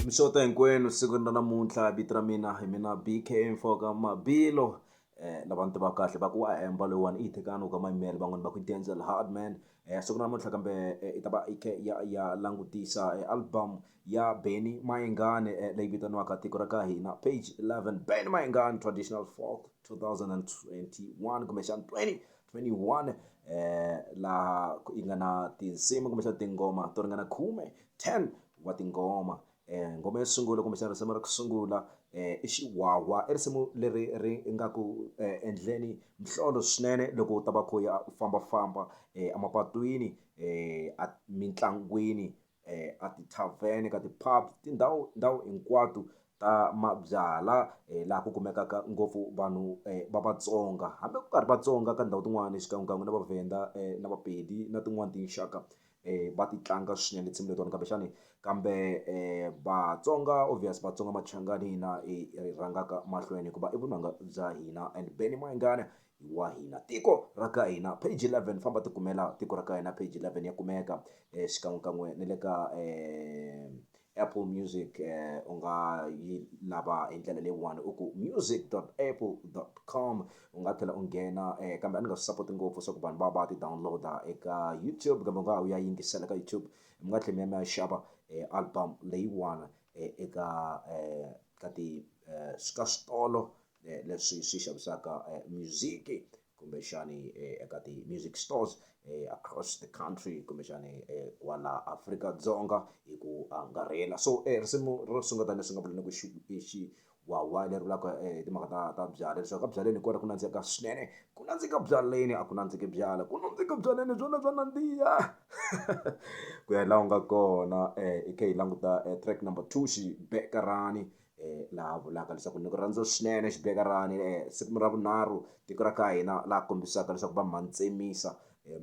mixota hinkwenu siku na namuntlha vito ra mina hi mina bk mfoka mabilo eh lava ni tiva kahle va ku wa emba loyiwani i yi tekana u ka mayimele van'wani va ku denzel hardman eh siku namuntlha kambe eh, i ta va i khe ya ya langutisa eh, album ya benny mayengane eh, leyi vitaniwaka tiko ra ka hina page 11 benny mayengane traditional folk 2021 kumbexana 20 21 eh laha yi nga na tinsimu kumbexana tinghoma to ringana khume 10 wa tinghoma eh nghoma yo sungula kumbexana risimu ra ku sungula eh i xiwawa i risimu leri ri nga ku eh, endleni mhlolo swinene loko u ta va kho ya u fambafamba eh, emapatwini eh, mitlangwini eh, a ti-tavern ka ti-pub tindhawu ndhawu hinkwato ta mabyala eh, laha ku kumekaka ngopfu vanhu eh, va vatsonga hambi ku karhi vatsonga ka ndhawu tin'wana xikan'wekan'we na vavhenda eh, na vapedi na tin'wana tinxaka eh, va ti tlanga swinene tinsimu letiwani kambe xani kambe eh, vatsonga obvious vatsonga machangani hina hi rhangaka mahlweni hikuva i vunanga bya hina and beny mayingana hi wa hina tiko ra ka hina page 11 famba tikumela tiko ra ka hina page 11 ya kumeka eh, xikan'wekan'we ni le ka eh, apple music eh, u nga yi lava hi ndlela leyiwani u ku music apple com u nga tlhela u nghena eh, kambe a ni nga swi sapoti ngopfu swa ku vanhu va va ti downloada eka youtube kambe u nga ha u ya yingisela ka youtube mi nga tlhela mi ya mi ya xava eh, album leyiwani eh, eka eh, ka ti eh, ka switolo eh, leswi swi xavisaka eh, music kumbexani eh, eka ti-music stores eh, across the country kumbexani eh, kwala afrika dzonga hi ku angarhela so eh, risimu ro sungula leswi nga vuleni ku xiwawa leri vulaka eh, timhaka ta ta byala leswaku ka byaleni hi kona ku nandzika swinene ku nandzika byaleni a ku nandziki byala ku nandzika byaleni byona bya nandziha ku ya laha u nga kona eh, i khe hi languta eh, track number two xibekarani la ha vulaka leswaku ni ku rhandza swinene xibekirani siku ra vunharhu tiko ra ka hina laha kombisaka leswaku va mhani tsemisa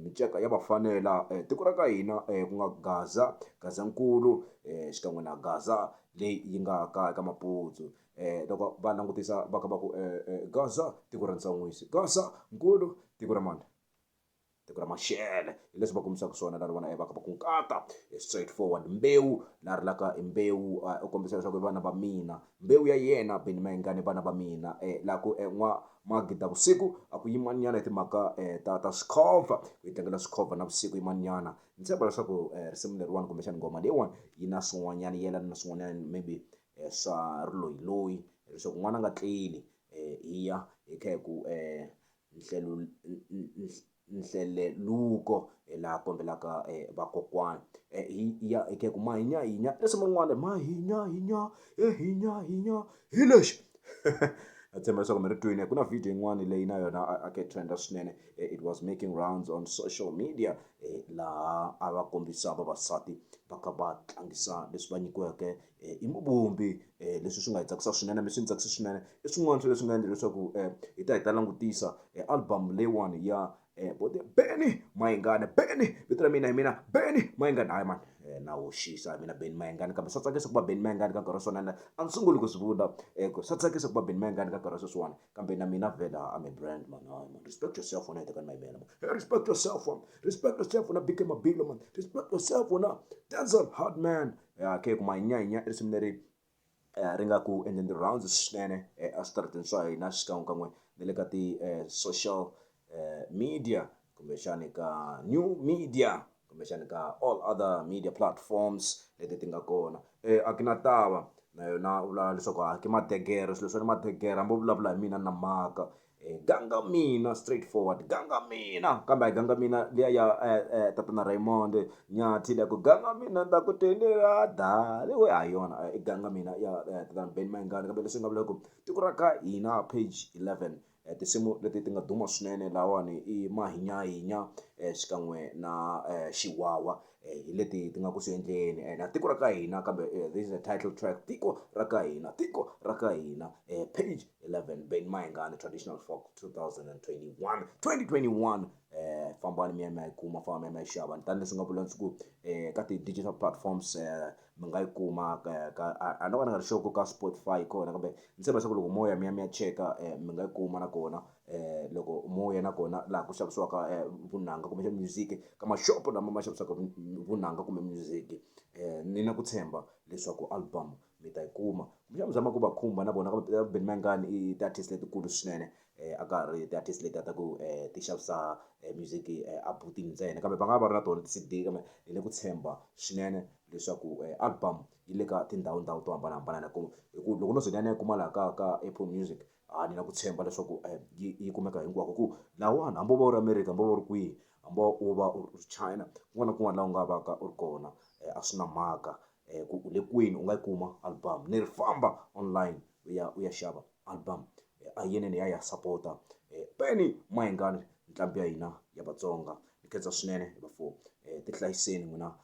miceka ya vafanela tiko ra ka hina ku nga gaza gazankulu xikan'we na gaza leyi yi nga ka eka maputsu loko va langutisa va kha va ku gaza tiko ra ntsan'wisi gaza nkulu tiko ra mani. tiko ra maxele hi leswi va kombisaka swona lani vona va ku nkata straight forward mbewu la rilaka hi mbewu u kombisa leswaku i vana va mina mbewu ya yena beni mayingani vana va mina um laha ku n'wa magida vusiku a ku yimanyana hi timhaka um ta ta swikhova ku yi tlangela swikhova na vusiku yimanyana ni tshemba leswaku um risimu leriwani kumbexani nghoma leyiwani yi na swin'wanyana yi yelana na swin'wanyana maybe um swa riloyiloyi leswaku n'wana a nga tleli um hi ya hi kha hi ku um nhleluko laha kombelaka vakokwani hi ya hi ku ma hi nya hi nya risimu rin'wana ma hi nya hi nya he hi nya hi nya hi lexi a tshemba leswaku mi ri twile ku na video yin'wana leyi na yona a ke trenda swinene it was making rounds on social media laha a va kombisa vavasati va kha va tlangisa leswi va nyikiweke hi muvumbi leswi swi nga hi tsakisa swinene mi swi ni tsakisa swinene i swin'wana swa leswi nga endla leswaku hi ta hi ta langutisa album leyiwani ya vo the beni mayingani beni vito ra mina hi mina beni mayingani hayi mani na hoxisa hi mina beni mayingani kambe swa tsakisa ku va beni mayingani ka nkarhi wa swona na a ni sunguli ku swi vula ku swa tsakisa ku va beni mayingani ka nkarhi wa sweswiwani kambe na mina vhela I'm a brand man hayi mani respect yourself wena hetekani mayimela mani hey respect yourself mani respect yourself wena big mabilo mani respect yourself wena denzel hard man ya khe ku manyanyinya i risimu leri ri nga ku endleni ti-rounds swinene eswitarateni swa hina xikan'wekan'we na le ka ti-social media kumbexani ka new media kumbexani ka all other media platforms leti ti nga kona a ki na tava na yona u vula leswaku a ki madegere swilo swa ni madegere hambi u vulavula hi mina na maka E, ganga mina straight forward ganga mina kambe a yi ganga mina liya ya eh, eh, tatana raymond nyathi liya ku ganga mina ta ku tendela dali we ha yona i eh, ganga mina ya eh, tatana ben mayingani kambe leswi nga vula ku tiko ra ka hina page 11 eh, tinsimu leti ti nga duma swinene lawani i mahinyahinya eh, xikan'we na eh, xiwawa hi leti ti nga ku swi endleni and a tiko ra ka hina kambe eh, this is a title track tiko ra ka hina tiko ra ka hina eh, page 11 ben mayengane traditional folk 2021 2021 eh fambani mi ya mi ya yi kuma famba mi ya mi ya yi xava tanihileswi nga vula ndzi ku eh ka ti-digital platforms eh mi nga yi kuma ka ka a- a no ka ni nga ri sure ku ka spotify kona kambe ni tshemba leswaku loko mo ya mi ya mi ya cheka eh mi nga yi kuma nakona um loko mo ya na kona laha ku xavisiwaka vunanga kumbexana music ka mashopo lama ma xavisaka vunanga kumbe music um ni na ku tshemba leswaku album mi ta yi kuma kumbexana mi zama ku va khumba na vona kambe Ben Mayengani i ti-artist letikulu swinene um a ka ha ri ti-artist leti a ta ku um ti xavisa music a booth-ini ntsena kambe va nga va ri na tona ti-C_D kambe hi le ku tshemba swinene leswaku album yi le ka tindhawundhawu to hambanahambana hi ku hi ku loko no ze ni ya ni ya yi kuma laha ka ka Apple Music. a ni na ku tshemba leswaku um yi yi kumeka hinkwako ku lawani hambi wo va u ri america hambi wo va u ri kwihi hambi wo va u ri china kun'wana na kun'wana laha u nga vaka u ri kona um a swi na mhaka um ku u le kwini u nga yi kuma album ni ri famba online u ya u ya xava album a hi yinene hi ya hi ya sapota um Benny Mayengani nqambi ya hina ya Vatsonga ni khensa swinene bafo um tihlayiseni n'wina.